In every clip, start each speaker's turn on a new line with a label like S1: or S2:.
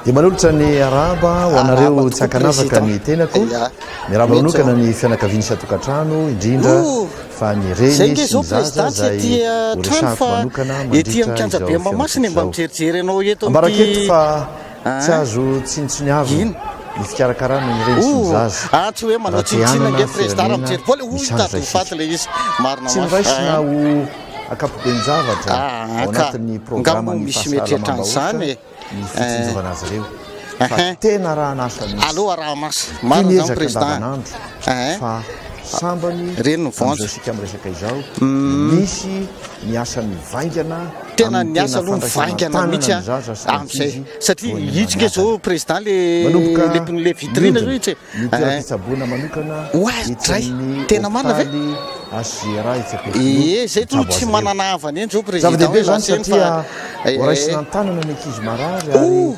S1: dia manolotra ny araba ho anareo tsy ankanavaka ny tenako miaraba manokana ny fianakaviany satokantrano indrindra fa ny reny sy ny zaza zay horesahako manokana mandritra izao fianakaviana ambaraketo fa Tsy azo tsinontsiniavina ny fikarakarana ny reny sy ny zaza raha te hanana
S2: firenena misandratra isika. Tsy noraisina ho
S1: ankapoben-javatra ao anatin'ny programan'ny fahasalamam-bahoaka ny fitsinjovana azy ireo, fa tena rahan'asa mihitsy.
S2: Tia miezaka andavanandro, fa
S1: sambany amin'izao
S2: isika miresaka izao,
S1: misy ny asa mivaingana Tena ny asa
S2: aloha mivaingana mihitsy amin'izay satria hitsika izao président le le vitrine zao hitsy
S1: oazy dray
S2: tena marina ve
S1: ee
S2: zay to tsy manana havana eny zao président hoe lasa eny
S1: fa raisina an-tanana ny ankizy marary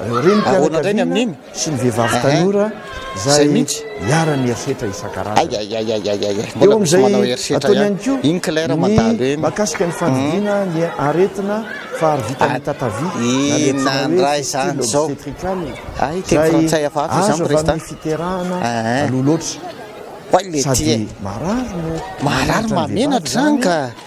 S1: ahoana indray ny amin'iny sy ny
S2: vehivavy
S1: tanora izay mihitsy iharan'ny herisetra isan-karazany eo amin'izay ataony ihany koa ny
S2: mahakasika ny fandidiana
S1: ny aretina faharovitan'ny tatavia na ny
S2: antsoina hoe fistule obstetricale izay azo avy amin'ny fiterahana
S1: aloha loatra sady marary no
S2: mahamenatra ny vehivavy izany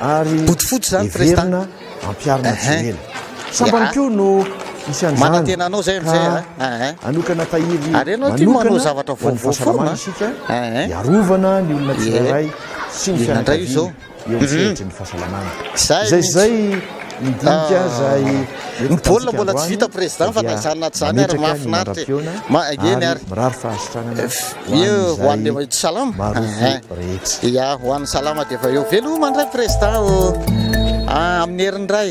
S1: ary heverina
S2: ampiharina
S1: tsy ho ela. Sambany koa no hisy an'izany ka
S2: hanokana
S1: tahiry manokana
S2: ho an'ny fahasalamana isika
S1: hiarovana ny olona tsirairay sy ny fianakaviana
S2: eo amin'ny sehatry ny
S1: fahasalamana. Izay sy izay ny dinika izay. Ny baolina mbola
S2: tsy vita président fa na izany na tsy izany ary mahafinaritra e. Ma eny ary. Mirary
S1: fahasitranana
S2: ho an'ny izay marovo rehetra. Ya ho an'ny salama dia efa eo. Veloma indray
S1: président
S2: ô. Ah amin'ny heriny indray.